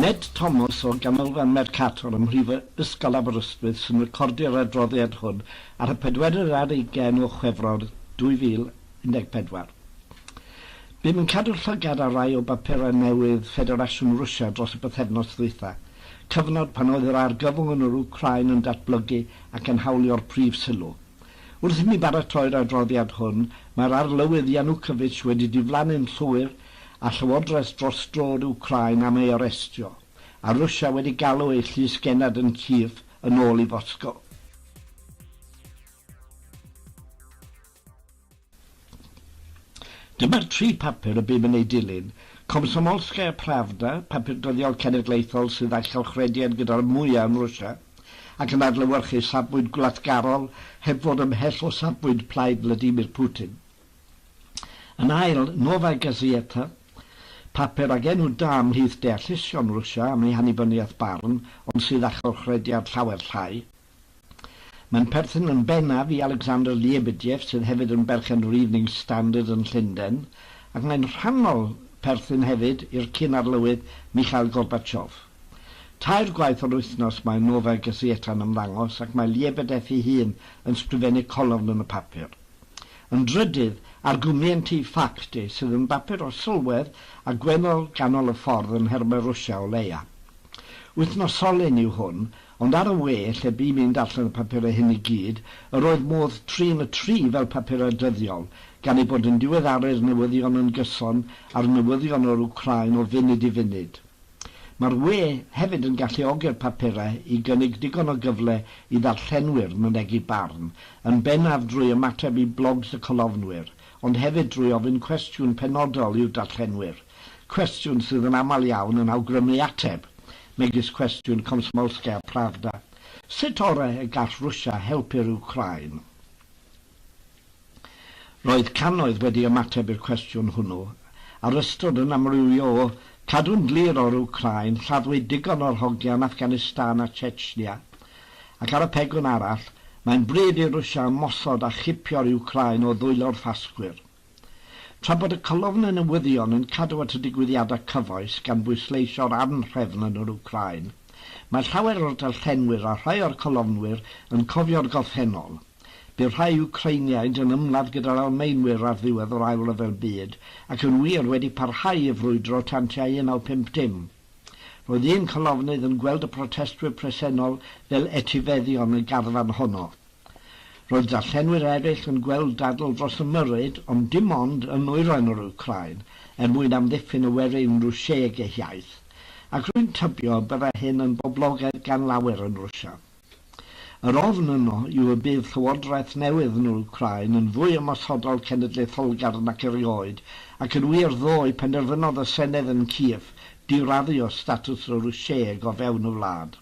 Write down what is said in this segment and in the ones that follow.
Ned Thomas o Ganolfan Mercator ym Mhrifysgol Aberystwyth sy'n recordio'r adroddiad hwn ar y pedwerydd ar ugain o Chwefror 2014. Bum yn cadw llygad ar rai o bapurau newydd Ffederasiwn Rwsia dros y bythefnos ddwytha, cyfnod pan oedd yr argyfwng yn yr Wcráin yn datblygu ac yn hawlio'r prif sylw. Wrth i mi baratoi'r adroddiad hwn, mae'r Arlywydd Yanukovych wedi diflannu'n llwyr a Llywodraeth dros droed Wcráin am ei arestio, a Rwsia wedi galw ei llys genad yn Kyiv yn ôl i Foscow. Dyma'r tri phapur y bum yn eu dilyn, Komsomolskaya Pravda, papur dyddiol cenedlaethol sydd â chylchrediad gyda'r mwyaf yn Rwsia, ac yn adlewyrchu safbwynt gwlatgarol heb fod ymhell o safbwynt plaid Vladimir Putin. Yn ail, Novaya Gazeta, papur ag enw da ymhlith deallusion Rwsia am ei hannibyniaeth barn ond sydd â chylchrediad llawer llai. Mae'n perthyn yn bennaf i Alexander Liebediev sydd hefyd yn berchen yr Evening Standard yn Llundain ac mae'n rhannol perthyn hefyd i'r cyn-arlywydd Mikhail Gorbachev. Tair gwaith yr wythnos mae Novaya Gazeta yn ymddangos ac mae Liebedev ei hun yn sgrifennu colofn yn y papur. Yn drydydd, argumenti ffacti sydd yn bapur o sylwedd a gwennol ganol y ffordd yn nhermau Rwsia o leia. Wythnosolyn yw hwn, ond ar y we, lle bûm i'n darllen y papurau hyn i gyd, yr oedd modd trin y tri fel papurau dyddiol, gan eu bod yn diweddaru'r newyddion yn gyson â'r newyddion o'r Wcráin o funud i funud. Mae'r we hefyd yn galluogi'r papurau i gynnig digon o gyfle i ddarllenwyr mynegi barn, yn bennaf drwy ymateb i blogs y colofnwyr, ond hefyd drwy ofyn cwestiwn penodol i'w darllenwyr, cwestiwn sydd yn aml iawn yn awgrymu ateb, megis cwestiwn Komsomolskaya Pravda, Sut orau y gall Rwsia helpu'r Wcráin? Roedd cannoedd wedi ymateb i'r cwestiwn hwnnw, a'r ystod yn amrywio o, Cadw'n glir o'r Wcráin, lladdwyd digon o'r hogia yn Afghanistan a Chechnya, ac ar y pegwn arall, Mae'n bryd i Rwsia ymosod a chipio'r Wcráin o ddwylo'r Ffasgwyr. Tra bod y colofnau newyddion yn cadw at y digwyddiadau cyfoes gan bwysleisio'r anhrefn yn yr Wcráin, mae llawer o'r darllenwyr a rhai o'r colofnwyr yn cofio'r gorffennol. Bu rhai Wcreiniaid yn ymladd gyda'r Almaenwyr ar ddiwedd yr Ail Ryfel Byd, ac yn wir wedi parhau i frwydro tan tua 1950. Roedd un colofnydd yn gweld y protestwyr presennol fel etifeddion y garfan honno. Roedd darllenwyr eraill yn gweld dadl dros y Myrryd, ond dim ond yn nwyrain yr Wcráin, er mwyn amddiffyn y werin Rwsieg eu hiaith. Ac rwy'n tybio y byddai hyn yn boblogaidd gan lawer yn Rwsia. Yr ofn yno yw y bydd llywodraeth newydd yn Wcráin yn fwy ymosodol cenedlaetholgar nac erioed, ac yn wir ddoe penderfynodd y Senedd yn Kyiv diraddio statws y Rwsieg o fewn y wlad.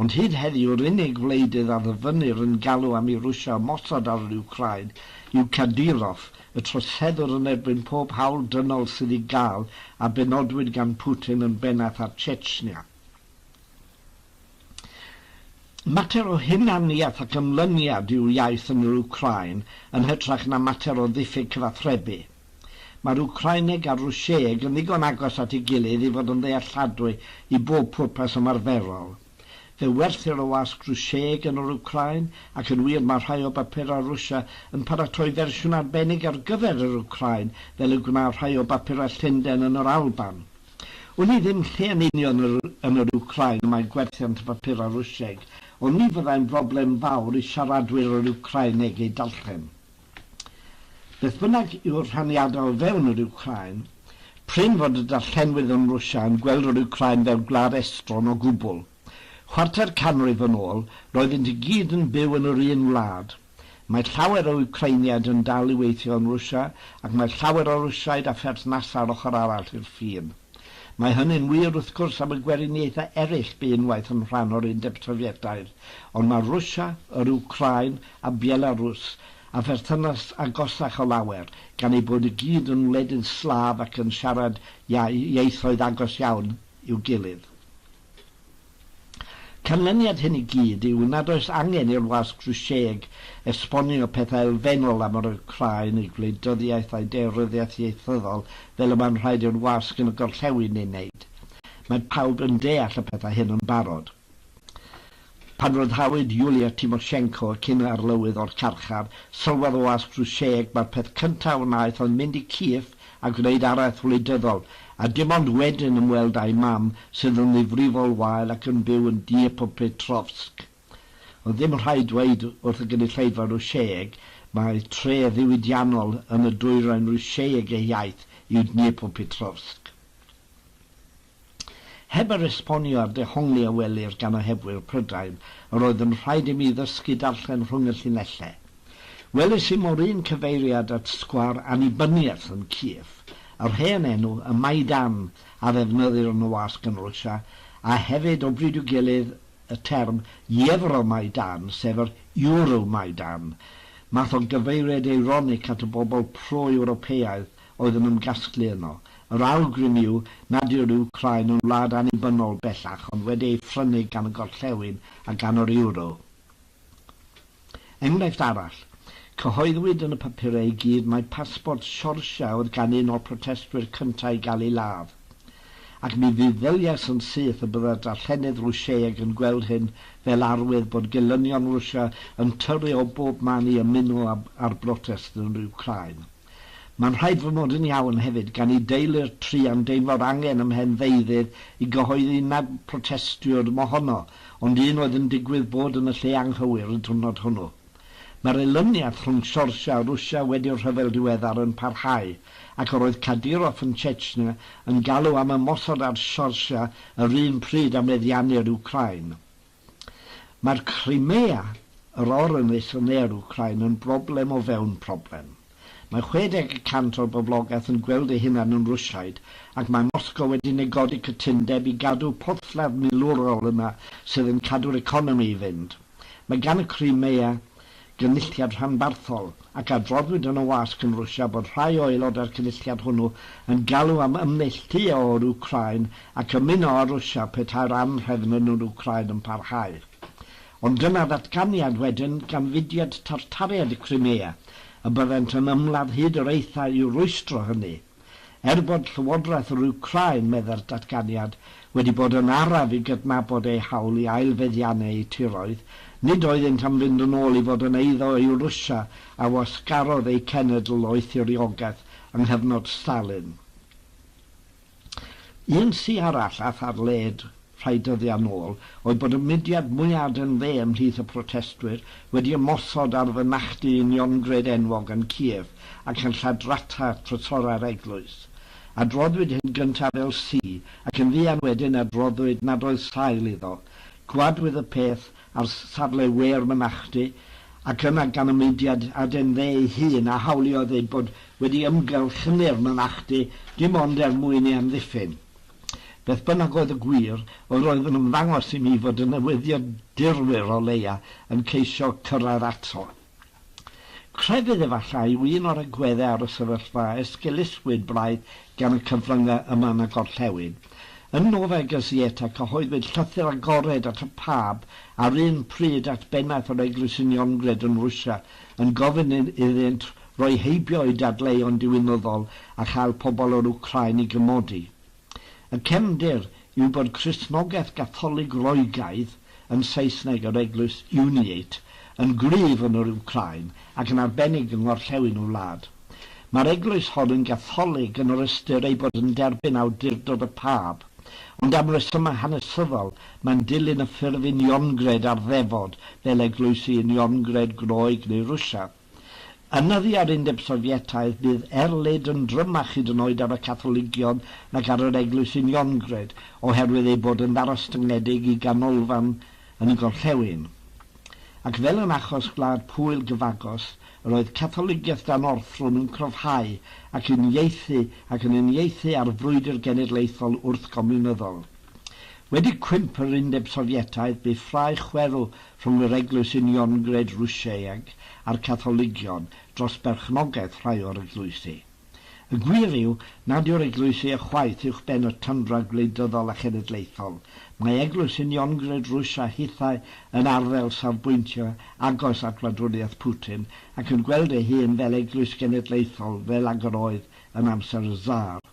Ond hyd heddiw yr unig wleidydd a ddyfynnir yn galw am i Rwsia ymosod ar yr Wcráin yw Kadyrov, y troseddwr yn erbyn pob hawl dynol sydd i gael a benodwyd gan Putin yn bennaeth ar Chechnya. Mater o hunaniaeth ac ymlyniad i'w iaith yn yr Wcráin yn hytrach na mater o ddiffyg cyfathrebu. Mae'r Wcraineg a'r Rwsieg yn ddigon agos at ei gilydd i fod yn ddealladwy i bob pwrpas ymarferol. Fe werthir y wasg Rwsieg yn yr Wcráin, ac yn wir mae rhai o bapurau Rwsia yn paratoi fersiwn arbennig ar gyfer yr Wcráin fel y gwna rhai o bapurau Llundain yn yr Alban. Wn i ddim lle yn union yn yr Wcráin y mae gwerthiant y papurau Rwsieg, ond ni fyddai'n broblem fawr i siaradwyr yr Wcráineg eu darllen. Beth bynnag yw'r rhaniadau o fewn yr Wcráin, prin fod y darllenwyr yn Rwsia yn gweld yr Wcráin fel gwlad estron o gwbl. Chwarter canrif yn ôl, roeddynt i gyd yn byw yn yr un wlad. Mae llawer o Wcreiniaid yn dal i weithio yn Rwsia ac mae llawer o Rwsiaid â pherthnasau ar ochr arall i'r ffin. Mae hynny'n wir, wrth gwrs, am y Gweriniaethau eraill bu unwaith yn rhan o'r Undeb Sofietaidd, ond mae Rwsia, yr Wcráin a Belarws â pherthynas agosach o lawer, gan eu bod i gyd yn wledydd Slaf ac yn siarad ieithoedd agos iawn i'w gilydd. Canlyniad hyn i gyd yw nad oes angen i'r wasg Drwsieg esbonio pethau elfennol am yr Wcráin, ei gwleidyddiaeth a'i deyryddiaeth ieithyddol fel y mae'n rhaid i'r wasg yn y gorllewin ei wneud. Mae pawb yn deall y pethau hyn yn barod. Pan ryddhawyd Yulia Tymoshenko, y cyn arlywydd, o'r carchar, sylwodd Oas Prwsieg mai'r peth cyntaf a wnaeth oedd mynd i Kyiv a gwneud araith wleidyddol, a dim ond wedyn ymweld â'i mam, sydd yn ddifrifol wael ac yn byw yn Dniepopetrovsk. Ond ddim rhaid dweud wrth y gynulleidfa Rwsieg mai tref ddiwydiannol yn y dwyrain Rwsieg ei hiaith yw Dniepopetrovsk. Heb yr esbonio a'r dehongli a welir gan ohebwyr Prydain, yr oedd yn rhaid i mi ddysgu darllen rhwng y llinellau. Welis i mo'r un cyfeiriad at sgwâr annibyniaeth yn Kiev, yr hen enw, y Maidan, a ddefnyddir yn y wasg yn Rwsia, a hefyd, o bryd i'w gilydd, y term Yevro-Maidan, sef yr Euromaidan, math o gyfeiriad eironig at y bobl pro-Ewropeaidd oedd yn ymgasglu yno. Yr awgrym yw nad yw'r Wcráin yn wlad annibynnol bellach ond wedi ei phrynu gan y gorllewin a gan yr Euro. Enghraifft arall. Cyhoeddwyd yn y papurau i gyd mai pasbort Siorsia oedd gan un o'r protestwyr cyntaf i gael ei ladd. Ac mi feddyliais yn syth y bydde'r darllenydd Rwsieg yn gweld hyn fel arwydd bod gelynion Rwsia yn tyrru o bob man i ymuno â'r brotest yn yr Wcráin. Mae'n rhaid fy mod yn iawn hefyd gan i deulu'r tri am deimlo'r angen ym mhen ddeuddydd i gyhoeddi nad protestiwr mohono ond un oedd yn digwydd bod yn y lle anghywir y diwrnod hwnnw. Mae'r elyniath rhwng Siorsia a Rwsia wedi'r rhyfel diweddar yn parhau ac yr oedd Kadyrov yn Chechnya yn galw am ymosod ar Siorsia yr un pryd a meddiannu'r Wcráin. Mae'r Crimea, yr orynyll yn ne'r Wcráin, yn broblem o fewn problem. Mae 60 y cant o'r boblogaeth yn gweld eu hunain yn Rwsiaid ac mae Moscow wedi negodi cytundeb i gadw porthladd milwrol yna sydd yn cadw'r economi i fynd. Mae gan y Crimea Gynulliad Rhanbarthol, ac adroddwyd yn y wasg yn Rwsia bod rhai o aelodau'r cynulliad hwnnw yn galw am ymneilltuo o'r Wcráin ac ymuno â Rwsia petai'r anhrefn yn yr Wcráin yn parhau. Ond dyna ddatganiad wedyn gan fudiad Tartariaid y Crimea, y byddent yn ymladd hyd yr aethau i'w rwystro hynny. Er bod Llywodraeth yr Wcráin, meddai'r datganiad, wedi bod yn araf i gydnabod eu hawl i ail-feddiannu eu tiroedd, nid oeddynt am fynd yn ôl i fod yn eiddo i Rwsia a wasgarodd eu cenedl o'u thiriogaeth yng nghyfnod Stalin. Un ci arall aeth ar led rhai dyddiau'n ôl, oedd bod y mudiad mwyaf yn dde ymhlith y protestwyr wedi ymosod ar fynachdy uniongred enwog yn Kiev ac yn lladrata trysorau'r eglwys. Adroddwyd hyn gyntaf fel Sy ac yn fuan wedyn adroddwyd nad oedd sail iddo. Gwladwyd y peth ar safle we'r mynachdy ac yna gan y mudiad aden dde ei hun a hawliodd eu bod wedi ymgyrchynu'r mynachdy dim ond er mwyn ei amddiffyn. Beth bynnag oedd y gwir, yr oedd yn ymddangos i mi fod y newyddiadurwyr o leia yn ceisio cyrraedd ato. Crefydd efallai yw un o'r agweddau ar y sefyllfa a esgeulusswyd braidd gan y cyfryngau yma na gorllewin. Yn Nova Gazeta cyhoeddwyd llythyr agored at y Pab a'r un pryd at bennaeth yr Eglwys Uniongred yn Rwsia yn gofyn iddynt roi heibio i dadleuon diwinyddol a chael pobl o'r Wcráin i gymodi. Y cefndir yw bod Cristnogaeth Gatholig Roegaidd, yn Saesneg yr Eglwys Uniate, yn gryf yn yr Wcráin ac yn arbennig yng ngorllewin y wlad. Mae'r eglwys hon yn Gatholig yn yr ystyr ei bod yn derbyn awdurdod y pab, ond am resymau hanesyddol mae'n dilyn y ffurf uniongred ar ddefod fel eglwysi uniongred Groeg neu Rwsiaidd. Yn nyddi a'r Undeb Sofietaidd, bydd erlid yn drymach hyd yn oed ar y Catholigion nag ar yr Eglwys Uniongred, oherwydd eu bod yn ddarostyngedig i ganolfan yn y gorllewin. Ac fel yn achos Gwlad Pwyl gyfagos, yr oedd Catholigiaeth dan orthrwm yn cryfhau ac yn ieithu ac yn uniaethu â'r frwydr genedlaethol wrthgomiwnyddol. Wedi cwymp yr Undeb Sofietaidd, bu ffrae chwerw rhwng yr Eglwys Uniongred Rwsieg a'r Catholigion dros berchnogaeth rhai o'r eglwysi. Y gwir yw nad yw'r eglwysi ychwaith uwchben y tyndra gwleidyddol a chenedlaethol, mae Eglwys Uniongred Rwsia hithau yn arddel safbwyntio agos at wladwriaeth Putin ac yn gweld ei hun fel eglwys genedlaethol fel ag yr oedd yn amser y Tsar.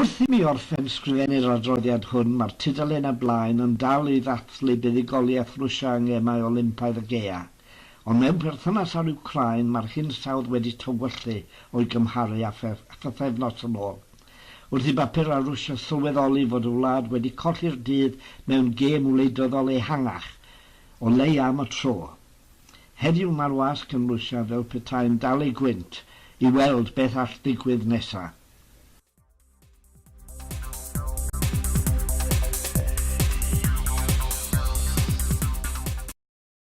Wrth i mi orffen sgrifennu'r adroddiad hwn, mae'r tudalen ar blaen yn dal i ddathlu buddugoliaeth Rwsia yng Ngemau Olympaidd y Gaeaf, ond mewn perthynas â'r Wcráin mae'r hinsawdd wedi tywyllu o'i gymharu â phythefnos yn ôl. Wrth i bapurau Rwsia sylweddoli fod y wlad wedi colli'r dydd mewn gêm wleidyddol ehangach, o leia am y tro, Heddiw mae'r wasg yn lwsiaf fel petai'n dal ei gwynt i weld beth all ddigwydd nesa'.